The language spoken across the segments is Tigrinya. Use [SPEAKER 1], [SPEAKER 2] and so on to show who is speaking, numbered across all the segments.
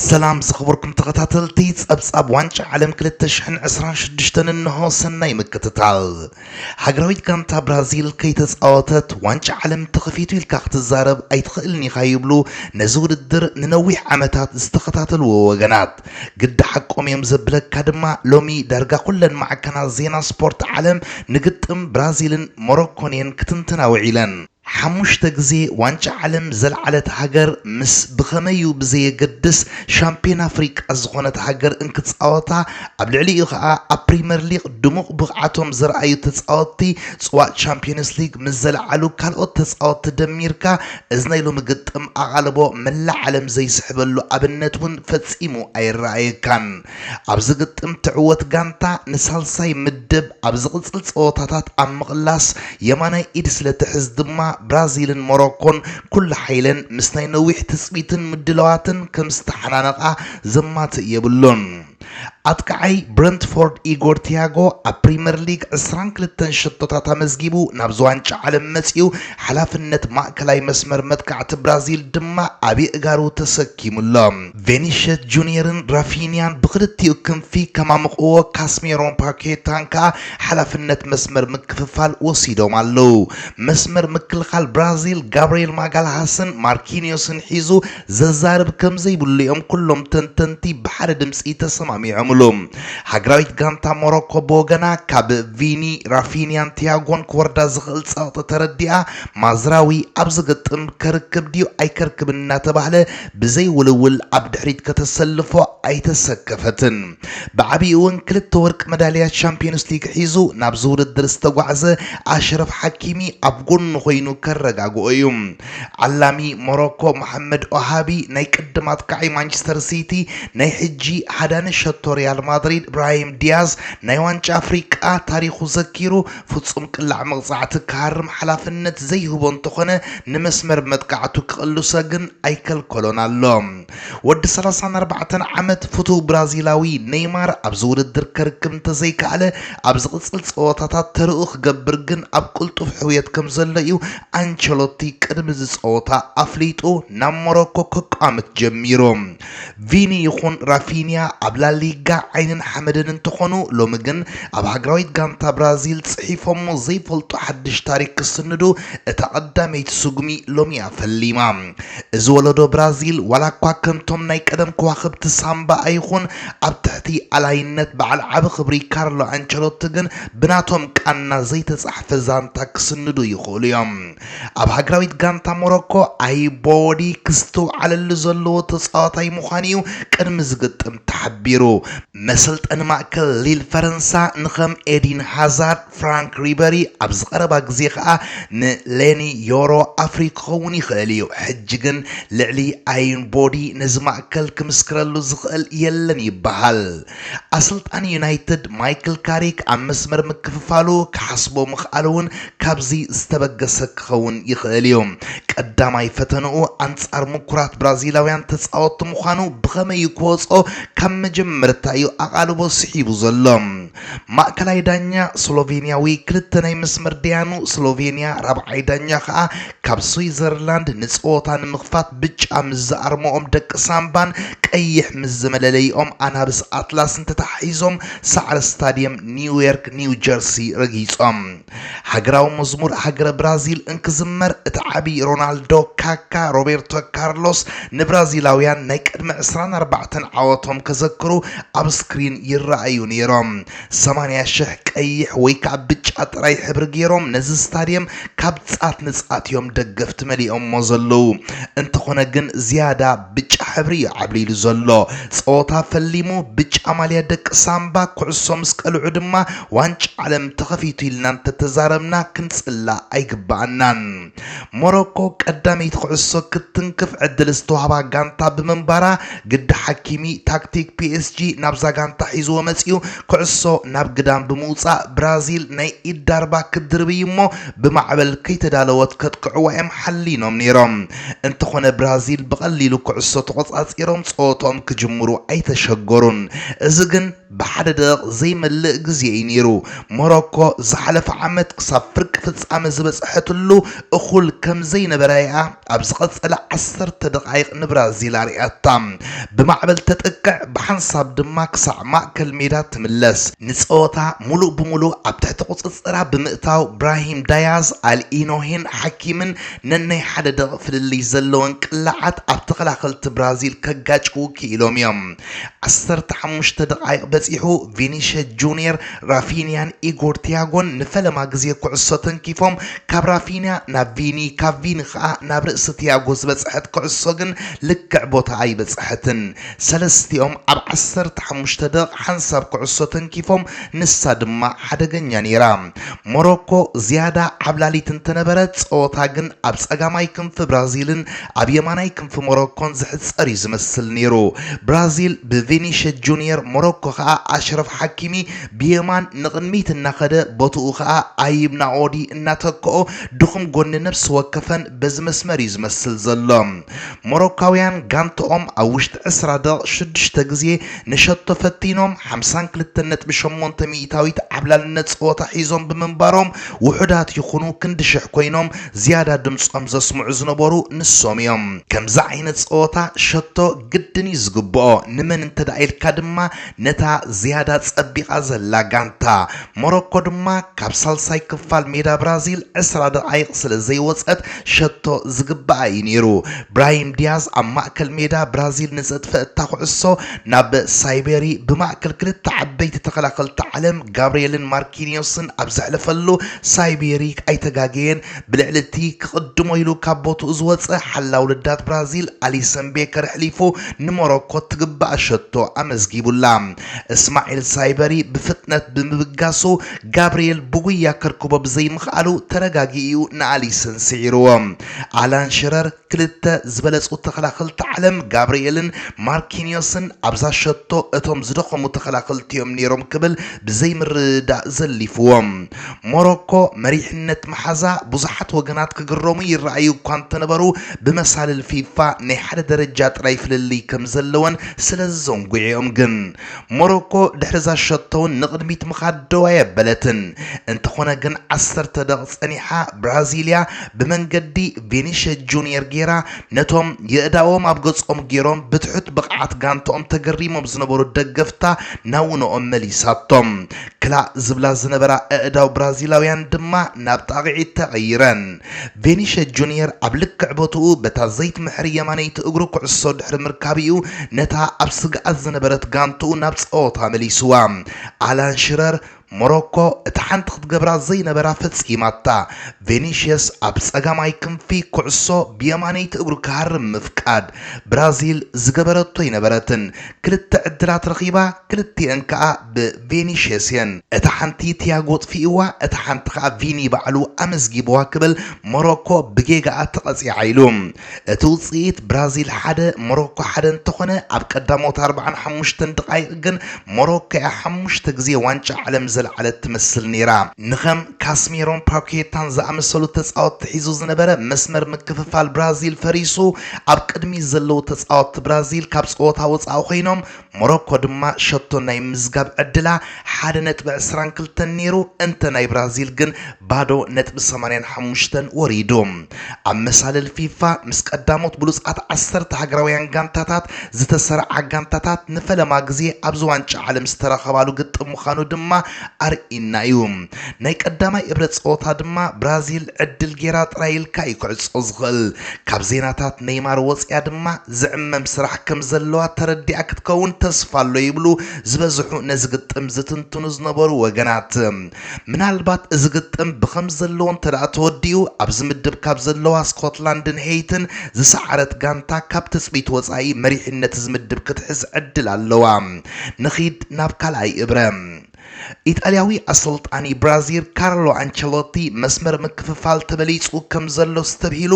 [SPEAKER 1] ሰላም ዝኸበርኩም ተኸታተልቲ ጸብጻብ ዋንጫ ዓለም ክልተ ሽሕን ዕስራን ሽዱሽተን እንሆ ሰናይ ምክትታል። ሃገራዊት ጋንታ ብራዚል ከይተጻወተት ዋንጫ ዓለም ተኸፊቱ ኢልካ ክትዛረብ ኣይትኽእልን ኢኻ ይብሉ ነዚ ውድድር ንነዊሕ ዓመታት ዝተኸታተልዎ ወገናት። ግዲ ሓቆም እዮም ዘብለካ ድማ ሎሚ ዳርጋ ኩለን ማዕከናት ዜና ስፖርት ዓለም ንግጥም ብራዚልን ሞሮኮን እየን ክትንትና ውዒለን። ሓሙሽተ ግዜ ዋንጫ ዓለም ዘልዓለት ሃገር ምስ ብኸመይ'ዩ ብዘየገድስ ሻምፕዮን ኣፍሪቃ ዝኾነት ሃገር እንክጻወታ፣ ኣብ ልዕሊኡ ከኣ ኣብ ፕሪመር ሊግ ድሙቕ ብቕዓቶም ዘርኣዩ ተጻወትቲ ጽዋእ ቻምፕዮንስ ሊግ ምስ ዘልዓሉ ካልኦት ተጻወትቲ ደሚርካ እዚ ናይ ሎሚ ግጥም ኣቓልቦ መላእ ዓለም ዘይስሕበሉ ኣብነት'ውን ፈጺሙ ኣይረኣየካን። ኣብዚ ግጥም ትዕወት ጋንታ ንሳልሳይ ምድብ ኣብ ዝቕጽል ጸወታታት ኣብ ምቕላስ የማናይ ኢድ ስለትሕዝ ድማ ብራዚልን ሞሮኮን ኩሉ ሓይለን ምስ ናይ ነዊሕ ትጽቢትን ምድላዋትን ከም ዝተሓናነቓ ዘማትእ የብሉን። ኣጥቃዓይ ብረንትፎርድ ኢጎር ቲያጎ ኣብ ፕሪመር ሊግ ዕስራን ክልተን ሸቶታት ኣመዝጊቡ ናብዚ ዋንጫ ዓለም መጺኡ ሓላፍነት ማእከላይ መስመር መጥቃዕቲ ብራዚል ድማ ኣብ የእጋሩ ተሰኪሙ ኣሎ። ቬኒሸስ ጁንየርን ራፊንያን ብኽልቲኡ ክንፊ ከማምቕዎ፣ ካስሜሮን ፓኬታን ከኣ ሓላፍነት መስመር ምክፍፋል ወሲዶም ኣለዉ። መስመር ምክልኻል ብራዚል፣ ጋብርኤል ማጋልሃስን ማርኪንዮስን ሒዙ ዘዛርብ ከምዘይብሉ'ዮም ኩሎም ተንተንቲ ብሓደ ድምጺ ተሰማሚዖምሉ። ሃገራዊት ጋንታ ሞሮኮ ብወገና ካብ ቪኒ፣ ራፊንያን ቲያጎን ክወርዳ ዝኽእል ጸቕጢ ተረዲኣ፣ ማዝራዊ ኣብ ዝግጥም ከርክብ ድዩ ኣይከርክብን እናተባህለ ብዘይ ውልውል ኣብ ድሕሪት ከተሰልፎ ኣይተሰከፈትን። ብዓቢኡ'ውን ክልተ ወርቂ መዳልያ ቻምፕዮንስ ሊግ ሒዙ ናብዚ ውድድር ዝተጓዕዘ ኣሽረፍ ሓኪሚ ኣብ ጎኑ ኮይኑ ከረጋግኦ እዩ። ዓላሚ ሞሮኮ መሓመድ ኦሃቢ፣ ናይ ቅድም ኣጥቃዓይ ማንቸስተር ሲቲ፣ ናይ ሕጂ ሃዳኒ ሸቶ ሪያል ማድሪድ ብራሂም ዲያዝ ናይ ዋንጫ ኣፍሪቃ ታሪኹ ዘኪሩ ፍጹም ቅላዕ መቕጻዕቲ ክሃርም ሓላፍነት ዘይህቦ እንተኾነ ንመስመር መጥቃዕቱ ክቕልሶ ግን ኣይከልከሎን ኣሎ። ወዲ ሰላሳን ኣርባዕተን ዓመት ፍቱው ብራዚላዊ ነይማር ኣብዚ ውድድር ከርክብ እንተዘይከኣለ ኣብ ዝቕጽል ጸወታታት ተርኡ ክገብር ግን ኣብ ቅልጡፍ ሕውየት ከምዘሎ እዩ ኣንቸሎቲ ቅድሚ እዚ ጸወታ ኣፍሊጡ ናብ ሞሮኮ ከቋምት ጀሚሩ። ቪኒ ይኹን ራፊንያ ኣብ ላሊጋ ዓይንን ሓመድን እንተኾኑ ሎሚ ግን ኣብ ሃገራዊት ጋንታ ብራዚል ጽሒፎሞ ዘይፈልጡ ሓድሽ ታሪክ ክስንዱ እታ ቀዳመይቲ ስጉሚ ሎሚያ ፈሊማ። እዚ ወለዶ ብራዚል ዋላ እኳ ከምቶም ናይ ቀደም ከዋኽብቲ ሳምባ ኣይኹን ኣብ ትሕቲ ኣላይነት በዓል ዓቢ ክብሪ ካርሎ ኣንቸሎቲ ግን ብናቶም ቃና ዘይተጻሕፈ ዛንታ ክስንዱ ይኽእሉ እዮም። ኣብ ሃገራዊት ጋንታ ሞሮኮ ኣይቦወዲ ክስተውዓለሉ ዘለዎ ተጻዋታይ ምዃኑ'ዩ ቅድሚ ዝግጥም ተሓቢሩ። መሰልጠኒ ማእከል ሊል ፈረንሳ ንከም ኤዲን ሃዛርድ፣ ፍራንክ ሪበሪ ኣብዚ ቀረባ ግዜ ከኣ ንሌኒ ዮሮ ኣፍርዩ ክኸውን ይኽእል'ዩ። ሕጂ ግን ልዕሊ ኣይንቦዲ ነዚ ማእከል ክምስክረሉ ዝኽእል የለን ይበሃል። ኣሰልጣኒ ዩናይትድ ማይክል ካሪክ ኣብ መስመር ምክፍፋሉ ክሓስቦ ምኽኣሉ እውን ካብዚ ዝተበገሰ ክኸውን ይኽእል እዩ። ቀዳማይ ፈተንኡ ኣንጻር ምኩራት ብራዚላውያን ተጻወትቲ ምዃኑ ብኸመይ ክወጾ ካብ መጀመርታ እዩ ኣቓልቦ ስሒቡ ዘሎ። ማእከላይ ዳኛ ስሎቬንያዊ፣ ክልተ ናይ መስመር ደያኑ ስሎቬንያ፣ ራብዓይ ዳኛ ከኣ ካብ ስዊዘርላንድ ንጸወታ ንምኽፋት ብጫ ምስ ዝኣርምኦም ደቂ ሳምባን ቀይሕ ምስ ዝመለለይኦም ኣናብስ ኣትላስን ተተሓሒዞም ሳዕሪ ስታድየም ኒውዮርክ ኒው ጀርሲ ረጊጾም ሃገራዊ መዝሙር ሃገረ ብራዚል እንክዝመር እቲ ዓብዪ ሮናልዶ ካካ ሮቤርቶ ካርሎስ ንብራዚላውያን ናይ ቅድሚ ዕስራን ኣርባዕተን ዓወቶም ከዘክሩ ኣብ ስክሪን ይረኣዩ ነይሮም ሰማንያ ሽሕ ቀይሕ ወይ ከዓ ብጫ ጥራይ ሕብሪ ገይሮም ነዚ ስታድየም ካብ ፃት ንፃት እዮም ደገፍቲ መሊኦሞ ዘለዉ። እንተኾነ ግን ዝያዳ ብጫ ሕብሪ እዩ ዓብሊሉ ዘሎ። ፀወታ ፈሊሙ ብጫ ማልያ ደቂ ሳምባ ኩዕሶ ምስ ቀልዑ ድማ ዋንጫ ዓለም ተኸፊቱ ኢልና እንተተዛረብና ክንፅላእ ኣይግበኣናን። ሞሮኮ ቀዳመይቲ ኩዕሶ ክትትንክፍ ዕድል ዝተዋህባ ጋንታ ብምንባራ ግዲ ሓኪሚ ታክቲክ ፒኤስጂ ናብዛ ጋንታ ሒዝዎ መፂኡ ኩዕሶ ናብ ግዳም ብምውፃእ ብራዚል ናይ ኢድ ዳርባ ክትድርብይ እሞ ብማዕበል ከይተዳለወት ከጥቅዕዋ እዮም ሓሊኖም ነይሮም እንተኾነ ብራዚል ብቐሊሉ ኩዕሶ ተቖፃፂሮም ፀወትኦም ክጅምሩ ኣይተሸገሩን እዚ ግን ብሓደ ደቒቕ ዘይመልእ ግዜ እዩ ነይሩ፣ ሞሮኮ ዝሓለፈ ዓመት ክሳብ ፍርቂ ፍጻመ ዝበጽሐትሉ እኹል ከም ዘይነበረ እያ ኣብ ዝቐጸለ ዓሰርተ ደቓይቕ ንብራዚል ኣርእያታ። ብማዕበል ተጥቅዕ፣ ብሓንሳብ ድማ ክሳዕ ማእከል ሜዳ ትምለስ። ንጸወታ ምሉእ ብምሉእ ኣብ ትሕቲ ቁጽጽራ ብምእታው፣ ብራሂም ዳያዝ፣ ኣልኢኖሂን ሓኪምን ነናይ ሓደ ደቒቕ ፍልልይ ዘለወን ቅላዓት ኣብ ተኸላኸልቲ ብራዚል ከጋጭዉ ክኢሎም እዮም። ዓሰርተ ሓሙሽተ ደቓይቕ በጺሑ ቪኒሸ ጁንየር፣ ራፊንያን ኢጎር ቲያጎን ንፈለማ ግዜ ኩዕሶ ተንኪፎም። ካብ ራፊንያ ናብ ቪኒ ካብ ቪኒ ከኣ ናብ ርእሲ ቲያጎ ዝበጽሐት ኩዕሶ ግን ልክዕ ቦታኣ ኣይበጽሐትን። ሰለስቲኦም ኣብ ዓሰርተ ሓሙሽተ ደቕ ሓንሳብ ኩዕሶ ተንኪፎም ንሳ ድማ ሓደገኛ ነይራ። ሞሮኮ ዝያዳ ዓብላሊት እንተነበረት፣ ጸወታ ግን ኣብ ጸጋማይ ክንፊ ብራዚልን ኣብ የማናይ ክንፊ ሞሮኮን ዝሕጸር'ዩ ዝመስል ነይሩ። ብራዚል ብቪኒሸ ጁንየር፣ ሞሮኮ ከኣ ኣሽረፍ ሓኪሚ ብየማን ንቕድሚት እናኸደ ቦትኡ ከኣ ኣይብ ናኦዲ እናተክኦ ድኹም ጎኒ ነብሲ ወከፈን በዚ መስመር'ዩ ዝመስል ዘሎ። ሞሮካውያን ጋንትኦም ኣብ ውሽጢ ዕስራ ደቒቕ ሽዱሽተ ግዜ ንሸቶ ፈቲኖም ሓምሳን ክልተን ነጥቢ ሸሞንተ ሚኢታዊት ዓብላልነት ጸወታ ሒዞም ብምንባሮም ውሑዳት ይኹኑ ክንዲ ሽሕ ኮይኖም ዝያዳ ድምጾም ዘስምዑ ዝነበሩ ንሶም እዮም። ከምዚ ዓይነት ጸወታ ሸቶ ግድን እዩ ዝግብኦ፣ ንመን እንተድኣ ኢልካ ድማ ነታ ዝያዳ ጸቢቓ ዘላ ጋንታ። ሞሮኮ ድማ ካብ ሳልሳይ ክፋል ሜዳ ብራዚል ዕስራ ደቓይቕ ስለ ዘይወጸት ሸቶ ዝግብኣ እዩ ነይሩ። ብራሂም ዲያዝ ኣብ ማእከል ሜዳ ብራዚል ንዘጥፈ እታ ኩዕሶ ናብ ሳይበሪ ብማእከል ክልተ ዓበይቲ ተኸላኸልቲ ዓለም ጋብርየልን ማርኪንዮስን ኣብ ዘሕለፈሉ ሳይበሪ ኣይተጋገየን ብልዕሊ እቲ ክቕድሞ ኢሉ ካብ ቦትኡ ዝወጸ ሓላው ልዳት ብራዚል ኣሊሰን ቤከር ኣሕሊፉ ንሞሮኮ ትግብኣ ሸቶ ኣመዝጊቡላ። እስማዒል ሳይበሪ ብፍጥነት ብምብጋሱ ጋብርኤል ብጉያ ከርክቦ ብዘይምኽኣሉ ተረጋጊኡ'ዩ ንኣሊሰን ስዒሩዎ። ኣላን ሽረር ክልተ ዝበለጹ ተኸላኸልቲ ዓለም ጋብርኤልን ማርኪንዮስን ኣብዛ ሸቶ እቶም ዝደኸሙ ተኸላኸልቲ'ዮም ነይሮም ክብል ብዘይምርድዳእ ዘሊፉዎ። ሞሮኮ መሪሕነት ምሓዛ ብዙሓት ወገናት ክግረሙ ይረኣዩ እኳ እንተነበሩ ብመሳልል ፊፋ ናይ ሓደ ደረጃ ጥራይ ፍልልይ ከምዘለወን ስለዚ ዘንጒዒኦም ግን ሞሮኮ ድሕሪ'ዛ ሸቶ'ውን ንቕድሚት ምኻድ ደው ኣየበለትን። እንተኾነ ግን ዓሰርተ ደቕቕ ጸኒሓ ብራዚልያ ብመንገዲ ቪኒሸ ጁንየር ገይራ ነቶም የእዳዎም ኣብ ገጾም ገይሮም ብትሑት ብቕዓት ጋንታኦም ተገሪሞም ዝነበሩ ደገፍታ ናብ ውነኦም መሊሳቶም። ክላእ ዝብላ ዝነበራ ኣእዳው ብራዚላውያን ድማ ናብ ጣቕዒት ተቐይረን። ቬኒሸ ጁንየር ኣብ ልክዕ ቦትኡ በታ ዘይትምሕር የማነይቲ እግሩ ኩዕሶ ድሕሪ ምርካብ'ዩ ነታ ኣብ ስግኣት ዝነበረት ጋንትኡ ናብ ጸወታ መሊሱዋ። ኣላን ሽረር፣ ሞሮኮ እታ ሓንቲ ክትገብራ ዘይነበራ ፈጺማታ፣ ቬኒሽየስ ኣብ ጸጋማይ ክንፊ ኩዕሶ ብየማነይቲ እግሩ ክሃርም ምፍቃድ፣ ብራዚል ዝገበረቶ ኣይነበረትን፣ ክልተ ዕድላት ረኺባ ክልቲኤን ከኣ ብ። ቬኒሽየስ እየን። እታ ሓንቲ ቲያጎ ኣጥፊእዋ እታ ሓንቲ ከኣ ቪኒ ባዕሉ ኣመዝጊብዋ ክብል ሞሮኮ ብጌጋኣ ተቐጺዓ ኢሉ። እቲ ውጽኢት ብራዚል ሓደ ሞሮኮ ሓደ እንተኾነ ኣብ ቀዳሞት ኣርብዓን ሓሙሽተን ደቓይቕ ግን ሞሮኮ'ያ ሓሙሽተ ግዜ ዋንጫ ዓለም ዘልዓለት ትመስል ነይራ። ንከም ካስሜሮን ፓኬታን ዝኣመሰሉ ተጻወትቲ ሒዙ ዝነበረ መስመር ምክፍፋል ብራዚል ፈሪሱ ኣብ ቅድሚት ዘለዉ ተጻወትቲ ብራዚል ካብ ጸወታ ወጻኢ ኮይኖም ሞሮኮ ድማ ሸቶ ናይ ምዝጋብ ዕድላ ሓደ ነጥቢ ዕስራን ክልተን ነይሩ፣ እንተ ናይ ብራዚል ግን ባዶ ነጥቢ ሰማንያን ሓሙሽተን ወሪዱ። ኣብ መሳልል ፊፋ ምስ ቀዳሞት ብሉጻት ዓሰርተ ሃገራውያን ጋንታታት ዝተሰርዓ ጋንታታት ንፈለማ ግዜ ኣብዚ ዋንጫ ዓለም ዝተራኸባሉ ግጥም ምዃኑ ድማ ኣርኢና'ዩ። ናይ ቀዳማይ እብረ ጸወታ ድማ ብራዚል ዕድል ጌራ ጥራይ ኢልካ'ዩ ክዕጾ ዝኽእል። ካብ ዜናታት ነይማር ወጺኣ ድማ ዝዕመም ስራሕ ከም ዘለዋ ተረዲኣ ክትከውን ተስፋ ኣሎ ይብሉ ዝበዝሑ ነዚ ግጥም ዝትንትኑ ዝነበሩ ወገናት። ምናልባት እዚ ግጥም ብከም ዘለዎ እንተድኣ ተወዲኡ ኣብዚ ምድብ ካብ ዘለዋ ስኮትላንድን ሄይትን ዝሰዓረት ጋንታ ካብ ትጽቢት ወጻኢ መሪሕነት'ዚ ምድብ ክትሕዝ ዕድል ኣለዋ። ንኺድ ናብ ካልኣይ እብረ። ኢጣልያዊ ኣሰልጣኒ ብራዚል ካርሎ ኣንቸሎቲ መስመር ምክፍፋል ተበሊጹ ከም ዘሎ ኣስተብሂሉ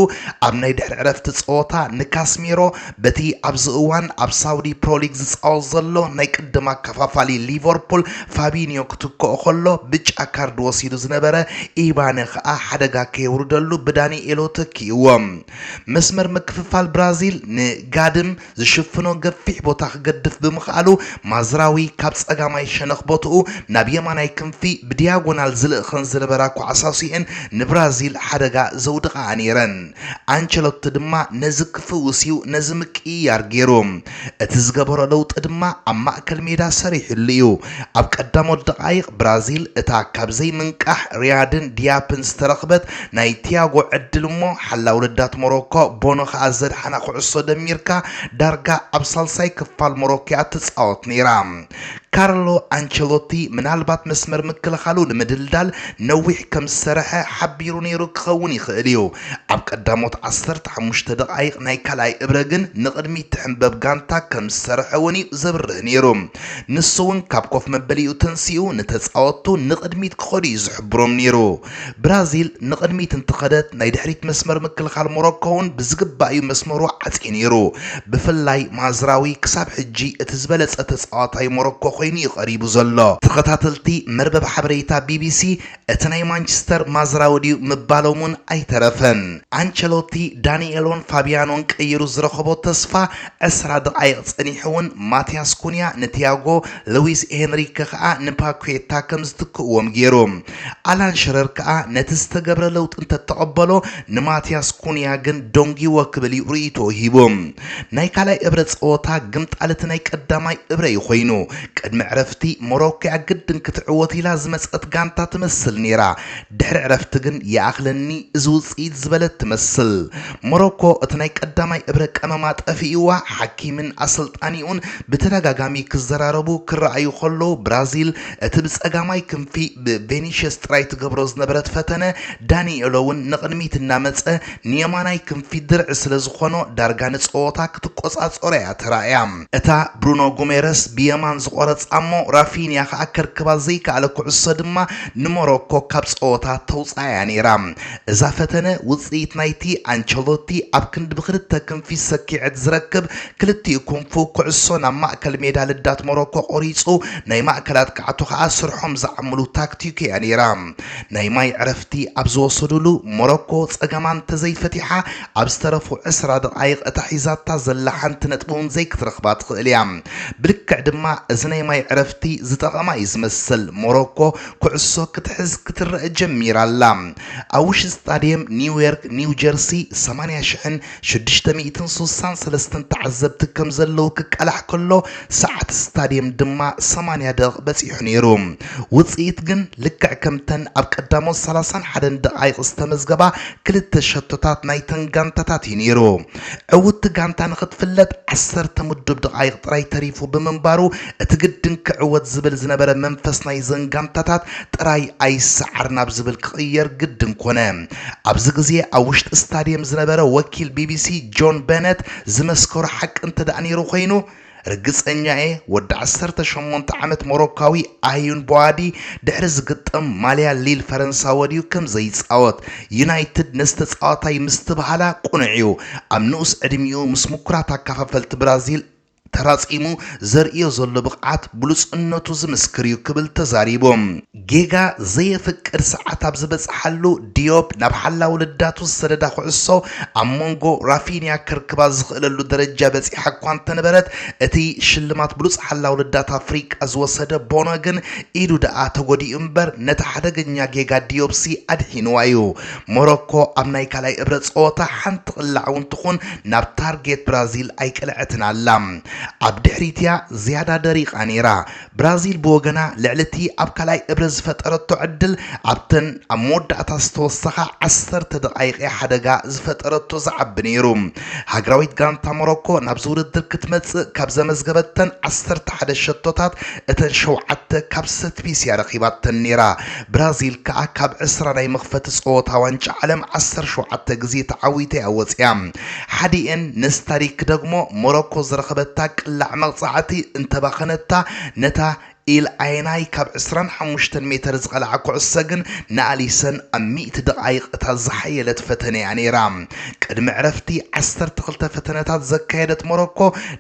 [SPEAKER 1] ኣብ ናይ ድሕሪ ዕረፍቲ ጸወታ ንካስሜሮ በቲ ኣብዚ እዋን ኣብ ሳውዲ ፕሮ ሊግ ዝጻወት ዘሎ ናይ ቅድም ኣከፋፋሊ ሊቨርፑል ፋቢንዮ ክትክኦ ከሎ ብጫ ካርድ ወሲዱ ዝነበረ ኢባነ ከኣ ሓደጋ ከየውርደሉ ብዳኒኤሎ ተኪእዎ። መስመር ምክፍፋል ብራዚል ንጋድም ዝሽፍኖ ገፊሕ ቦታ ክገድፍ ብምኽኣሉ፣ ማዝራዊ ካብ ጸጋማይ ሸነኽ ቦትኡ ናብ የማናይ ክንፊ ብዲያጎናል ዝልእኸን ዝነበራ ኳዕሳሲኤን ንብራዚል ሓደጋ ዘውድቓኣ ነይረን። ኣንቸሎቲ ድማ ነዚ ክፍውስ'ዩ ነዚ ምቅይያር ገይሩ። እቲ ዝገበሮ ለውጢ ድማ ኣብ ማእከል ሜዳ ሰሪሕሉ'ዩ። ኣብ ቀዳሞት ደቓይቕ ብራዚል እታ ካብ ዘይምንቃሕ ሪያድን ዲያፕን ዝተረኽበት ናይ ቲያጎ ዕድል እሞ ሓላዊ ልዳት ሞሮኮ ቦኖ ከኣ ዘድሓና ኩዕሶ ደሚርካ ዳርጋ ኣብ ሳልሳይ ክፋል ሞሮኮ'ያ ትጻወት ነይራ። ካርሎ ኣንቸሎቲ ምናልባት መስመር ምክልኻሉ ንምድልዳል ነዊሕ ከም ዝሰርሐ ሓቢሩ ነይሩ ክኸውን ይኽእል እዩ። ኣብ ቀዳሞት ዓሰርተ ሓሙሽተ ደቓይቕ ናይ ካልኣይ እብረ ግን ንቕድሚት ትሕንበብ ጋንታ ከም ዝሰርሐ'ውን'ዩ ዘብርህ ነይሩ። ንሱ'ውን ካብ ኮፍ መበሊኡ ተንሲኡ ንተጻወትቱ ንቕድሚት ክኸዱ እዩ ዝሕብሮም ነይሩ። ብራዚል ንቕድሚት እንተኸደት ናይ ድሕሪት መስመር ምክልኻል ሞሮኮ'ውን ብዝግባእ እዩ መስመሩ ዓጽዩ ነይሩ። ብፍላይ ማዝራዊ ክሳብ ሕጂ እቲ ዝበለጸ ተጻዋታይ ሞሮኮ ኮይኑ እዩ ቀሪቡ ዘሎ። ተኸታተልቲ መርበብ ሓበሬታ ቢቢሲ እቲ ናይ ማንችስተር ማዝራዊ ድዩ ምባሎም ውን ኣይተረፈን። ኣንቸሎቲ ዳኒኤሎን ፋብያኖን ቀይሩ ዝረኸቦ ተስፋ ዕስራ ደቓይቕ ጸኒሑ ውን ማቲያስ ኩንያ ንቲያጎ፣ ልዊስ ሄንሪከ ከኣ ንፓኲታ ከም ዝትክእዎም ገይሩ። ኣላን ሽረር ከኣ ነቲ ዝተገብረ ለውጢ እንተተቐበሎ ንማቲያስ ኩንያ ግን ዶንጊዎ ክብል ዩ ርእይቶኡ ሂቡ። ናይ ካልኣይ እብረ ጸወታ ግምጣል እቲ ናይ ቀዳማይ እብረ ዩ ኮይኑ። ቅድሚ ዕረፍቲ ሞሮኮ'ያ ግድን ክትዕወት ኢላ ዝመጸት ጋንታ ትመስል ነይራ። ድሕሪ ዕረፍቲ ግን ይኣኽለኒ እዚ ውጽኢት ዝበለት ትመስል። ሞሮኮ እቲ ናይ ቀዳማይ እብረ ቀመማ ጠፊእዋ፣ ሓኪምን ኣሰልጣኒኡን ብተደጋጋሚ ክዘራረቡ ክረኣዩ ከለዉ ብራዚል እቲ ብጸጋማይ ክንፊ ብቬኒሸስ ጥራይ ትገብሮ ዝነበረት ፈተነ ዳኒኤሎ'ውን ንቕድሚት እናመጸ ንየማናይ ክንፊ ድርዒ ስለ ዝኾኖ ዳርጋ ንጸወታ ክትቆጻጸሮ እያ ተራእያ። እታ ብሩኖ ጉሜረስ ብየማን ዝቖረጻ'ሞ ራፊንያ ከኣ ከርክባ ዘይከኣለ ኩዕሶ ድማ ንሞሮኮ ካብ ጸወታ ተውጽኣ እያ ነይራ። እዛ ፈተነ ውጽኢት ናይቲ ኣንቸሎቲ ኣብ ክንዲ ብኽልተ ክንፊ ሰኪዔት ዝረክብ ክልቲኡ ክንፉ ኩዕሶ ናብ ማእከል ሜዳ ልዳት ሞሮኮ ቆሪጹ ናይ ማእከል ኣጥቃዕቱ ከኣ ስርሖም ዝዓምሉ ታክቲኩ እያ ነይራ። ናይ ማይ ዕረፍቲ ኣብ ዝወሰዱሉ፣ ሞሮኮ ጸገማ እንተዘይፈቲሓ ኣብ ዝተረፉ ዕስራ ደቓይቕ እታ ሒዛታ ዘላ ሓንቲ ነጥቢ'ውን ዘይክትረኽባ ትኽእል እያ። ብልክዕ ድማ እዚ ናይ ማይ ዕረፍቲ ዝጠቐማ እዩ ዝመስል፣ ሞሮኮ ኩዕሶ ክትሕዝ ክትረእ ጀሚራ ኣላ። ኣብ ውሽጢ ስታድየም ኒውዮርክ ኒውጀርሲ ሰማንያ ሽሕን ሽዱሽተ ሚእትን ስሳን ሰለስተን ተዓዘብቲ ከም ዘለዉ ክቃላሕ ከሎ፣ ሰዓት ስታድየም ድማ ሰማንያ ደቕቕ በጺሑ ነይሩ። ውጽኢት ግን ልክዕ ከምተን ኣብ ቀዳሞት ሰላሳን ሓደን ደቓይቕ ዝተመዝገባ ክልተ ሸቶታት ናይተን ጋንታታት እዩ ነይሩ። ዕውትቲ ጋንታ ንኽትፍለጥ ዓሰርተ ምዱብ ደቓይቕ ጥራይ ተሪፉ ብምንባሩ፣ እቲ ግድን ክዕወት ዝብል ዝነበረ መንፈስ ናይዘን ጋንታታት ጥራይ ኣይሰዓር ናብ ዝብል ክቕየር ግድን ኮነ። ኣብዚ ግዜ ኣብ ውሽጢ ስታድየም ዝነበረ ወኪል ቢቢሲ ጆን በነት ዝመስከሮ ሓቂ እንተድኣ ነይሩ ኮይኑ፣ ርግጸኛ እየ ወዲ ዓሰርተ ሸሞንተ ዓመት ሞሮካዊ ኣዩን ቦዋዲ ድሕሪ ዝግጠም ማልያ ሊል ፈረንሳ ወድዩ ከም ዘይጻወት ዩናይትድ ነዚ ተጻዋታይ ምስትብሃላ ቅኑዕ'ዩ ኣብ ንኡስ ዕድሚኡ ምስ ምኩራት ኣካፋፈልቲ ብራዚል ተራጺሙ ዘርእዮ ዘሎ ብቕዓት ብሉጽነቱ ዝምስክር'ዩ ክብል ተዛሪቡ። ጌጋ ዘየፍቅድ ሰዓት ኣብ ዝበጽሓሉ፣ ዲዮፕ ናብ ሓላዊ ልዳቱ ዝሰደዳ ኩዕሶ ኣብ ሞንጎ ራፊንያ ከርክባ ዝኽእለሉ ደረጃ በጺሓ እኳ እንተነበረት፣ እቲ ሽልማት ብሉጽ ሓላዊ ልዳት ኣፍሪቃ ዝወሰደ ቦኖ ግን ኢዱ ደኣ ተጎዲኡ እምበር ነቲ ሓደገኛ ጌጋ ዲዮፕሲ ኣድሒንዋ'ዩ። ሞሮኮ ኣብ ናይ ካልኣይ እብረ ጸወታ ሓንቲ ቅላዕ እውን ትኹን ናብ ታርጌት ብራዚል ኣይቀልዐትን ኣላ። ኣብ ድሕሪት'ያ ዝያዳ ደሪቓ ነይራ። ብራዚል ብወገና ልዕሊ'ቲ ኣብ ካልኣይ እብረ ዝፈጠረቶ ዕድል ኣብተን ኣብ መወዳእታ ዝተወሰኻ ዓሰርተ ደቓይቕ'ያ ሓደጋ ዝፈጠረቶ ዝዓቢ ነይሩ። ሃገራዊት ጋንታ ሞሮኮ ናብዚ ውድድር ክትመጽእ ካብ ዘመዝገበተን ዓሰርተ ሓደ ሸቶታት እተን ሸውዓተ ካብ ሰትፒስ'ያ ረኺባተን ነይራ። ብራዚል ከኣ ካብ ዕስራ ናይ መኽፈቲ ጸወታ ዋንጫ ዓለም ዓሰርተ ሸውዓተ ግዜ ተዓዊታ'ያ ወጺኣ። ሓዲኤን ነዚ ታሪኽ ክደግሞ ሞሮኮ ዝረኸበታ ቅላዕ መቕጻዕቲ እንተባኸነታ ነታ ኢል ኣየናይ ካብ ዕስራን ሓሙሽተን ሜተር ዝቐልዓ ኩዕሶ ግን ንኣሊሰን ኣብ ሚእቲ ደቓይቕ እታ ዝሓየለት ፈተነ'ያ ነይራ። ቅድሚ ዕረፍቲ ዓሰርተ ክልተ ፈተነታት ዘካየደት ሞሮኮ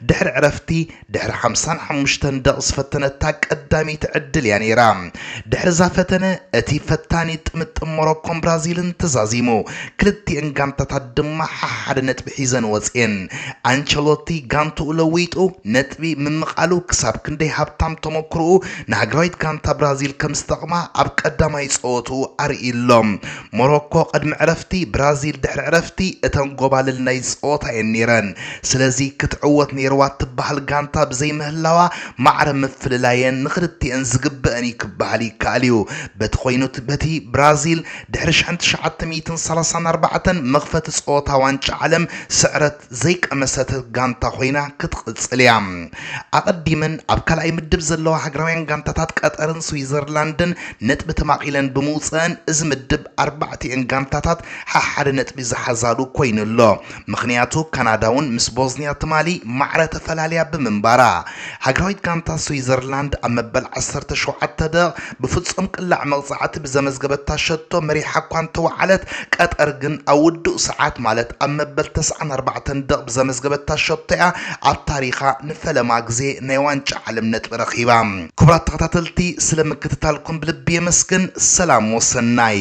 [SPEAKER 1] ድሕሪ ዕረፍቲ ድሕሪ ሓምሳን ሓሙሽተን ደቕ ዝፈተነታ ቀዳመይቲ ዕድል እያ ነይራ። ድሕሪ እዛ ፈተነ፣ እቲ ፈታኒ ጥምጥም ሞሮኮን ብራዚልን ተዛዚሙ፣ ክልቲኤን ጋንታታት ድማ ሓሓደ ነጥቢ ሒዘን ወጺኤን። ኣንቸሎቲ ጋንትኡ ለዊጡ ነጥቢ ምምቓሉ ክሳብ ክንደይ ሃብታም ተመኩሮኡ ንሃገራዊት ጋንታ ብራዚል ከም ዝጠቕማ ኣብ ቀዳማይ ጸወትኡ ኣርእዩ ኣሎ። ሞሮኮ ቅድሚ ዕረፍቲ ብራዚል ድሕሪ ዕረፍቲ እተን ጎባልል ናይ ጸወታ እየን ነይረን። ስለዚ ክትዕወት ነይርዋ እትበሃል ጋንታ ብዘይምህላዋ ማዕረ ምፍልላየን ንኽልቲኤን ዝግበእን እዩ ክበሃል ይከኣል እዩ። በቲ ኮይኑት በቲ ብራዚል ድሕሪ ሽሕን ትሽዓተ ሚእትን ሰላሳን ኣርባዕተን መኽፈቲ ጸወታ ዋንጫ ዓለም ስዕረት ዘይቀመሰት ጋንታ ኮይና ክትቕፅል እያ። ኣቐዲመን ኣብ ካልኣይ ምድብ ዘለዋ ሃገራውያን ጋንታታት ቀጠርን ስዊዘርላንድን ነጥቢ ተማቒለን ብምውፀእን እዚ ምድብ ኣርባዕቲኤን ጋንታታት ሓሓደ ነጥቢ ዝሓዛሉ ኮይኑ ኣሎ። ምኽንያቱ ካናዳ እውን ምስ ቦዝኒያ ትማሊ ማዕረ ተፈላልያ ብምንባራ። ሃገራዊት ጋንታ ስዊዘርላንድ ኣብ መበል ዓሰርተ ሸውዓተ ደቕ ብፍጹም ቅላዕ መቕጻዕቲ ብዘመዝገበታ ሸቶ መሪሓ እኳ እንተወዓለት፣ ቀጠር ግን ኣብ ውዱእ ሰዓት ማለት ኣብ መበል ተስዓን ኣርባዕተን ደቕ ብዘመዝገበታ ሸቶ'ያ ኣብ ታሪኻ ንፈለማ ግዜ ናይ ዋንጫ ዓለም ነጥቢ ረኺባ። ክቡራት ተኸታተልቲ ስለ ምክትታልኩም ብልቢ የመስግን ሰላም ወሰናይ።